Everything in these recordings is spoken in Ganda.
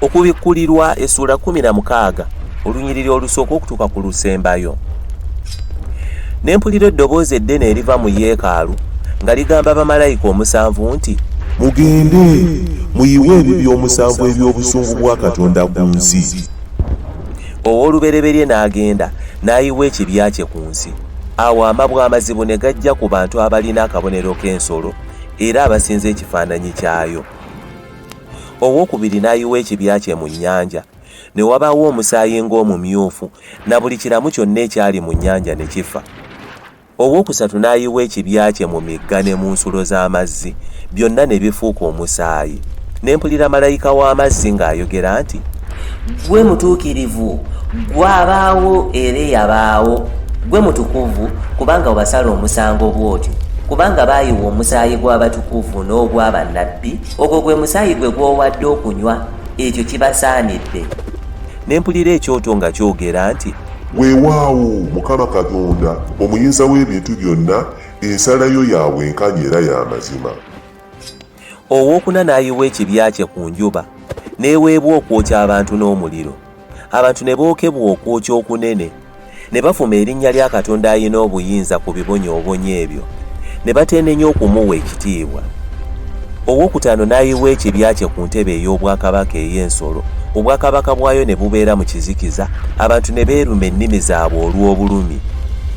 okubikkulirwa essuula 16 olunyiriri olusooka okutuuka ku lusembayo ne mpulira eddoboozi eddene eriva mu yeekaalu nga ligamba bamalayika omusanvu nti mugende muyiwe ebibi omusanvu eby'obusungu bwa katonda ku nsi ow'olubereberye n'agenda n'ayiwa ekibya kye ku nsi Awo amabwa amazibu ne gajja ku bantu abalina akabonero k'ensolo era abasinza ekifaananyi kyayo. Owokubiri n'ayiwa ekibya kye mu nnyanja, ne wabaawo omusaayi ng'omumyufu, na buli kiramu kyonna ekyali mu nnyanja ne kifa. Owokusatu n'ayiwa ekibya kye mu migga ne mu nsulo z'amazzi, byonna ne bifuuka omusaayi. Ne mpulira malayika w'amazzi ng'ayogera nti. Ggwe mutuukirivu, ggwe abaawo era eyabaawo, ggwe mutukuvu, kubanga obasala omusango bw'otyo. Kubanga baayiwa omusaayi gw'abatukuvu n'ogwa bannabbi, ogwo gwe musaayi gwe gw'owadde okunywa, ekyo kibasaanidde. Ne mpulira ekyoto nga kyogera nti. Weewaawo, Mukama Katonda, Omuyinza w'Ebintu Byonna, ensala yo ya bwenkanya era ya mazima. Ow'okuna n'ayiwa ekibya kye ku njuba, n'eweebwa okwokya abantu n'omuliro, abantu ne bookebwa okwokya okunene, ne bavuma erinnya lya Katonda Alina Obuyinza ku bibonyoobonyo ebyo, ne bateenenya okumuwa ekitiibwa. Ow'okutaano n'ayiwa ekibya kye ku ntebe ey'obwakabaka ey'ensolo, obwakabaka bwayo ne bubeera mu kizikiza, abantu ne beeruma ennimi zaabwe olw'obulumi,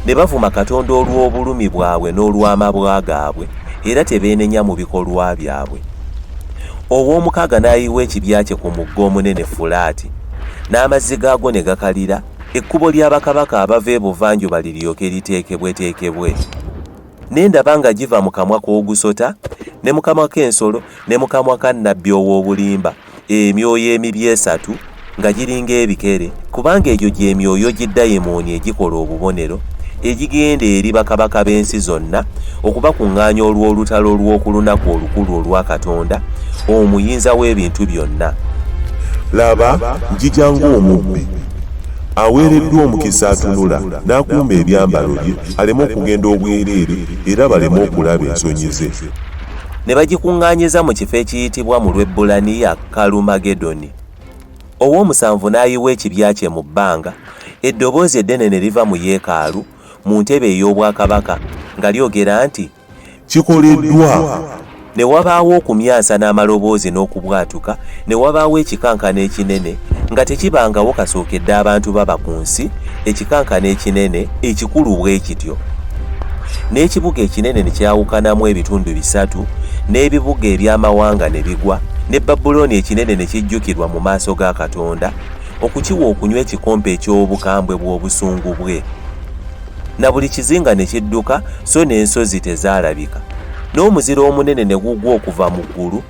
ne bavuma Katonda olw'obulumi bwabwe n'olw'amabwa gaabwe. era tebeenenya mu bikolwa byabwe. Ow'omukaaga n'ayiwa ekibya kye ku mugga omunene Fulaati, n'amazzi gaagwo ne gakalira, ekkubo lya bakabaka abava ebuvanjuba liryoke liteekebweteekebwe. Ne ndaba nga giva mu kamwa k'ogusota, ne mu kamwa k'ensolo, ne mu kamwa ka nnabbi ow'obulimba. emyoyo emibi esatu nga giringa ebikere kubanga egyo gyemyoyo gidayimooni egikola obubonero egigenda eri bakabaka b'ensi zonna okubakuŋŋaanya olw'olutalo olw'oku lunaku olukulu olwa katonda omuyinza w'ebintu byonna laba njija ng'omubbi aweereddwa omukisa atunula n'akuuma ebyambalo bye aleme okugenda obwereere era baleme okulaba ensonyi ze ne bagikuŋŋaanyiza mu kifo ekiyitibwa mu lw'ebbulaniya kalumagedoni ow'omusanvu n'ayiwa ekibya kye mu bbanga eddoboozi eddene ne liva mu yeekaalu mu ntebe ey'obwakabaka nga lyogera nti kikoleddwa ne wabaawo okumyansa n'amaloboozi n'okubwatuka ne wabaawo ekikankano ekinene nga tekibangawo kasookedde abantu baba ku nsi ekikankana ekinene ekikulu bwe kityo n'ekibuga ekinene ne kyawukanamu ebitundu bisatu n'ebibuga eby'amawanga ne bigwa ne babulooni ekinene ne kijjukirwa mu maaso ga katonda okukiwa okunywa ekikompe eky'obukambwe bw'obusungu bwe na buli kizinga ne kidduka so n'ensozi tezaalabika n'omuzira omunene ne gugwa okuva mu ggulu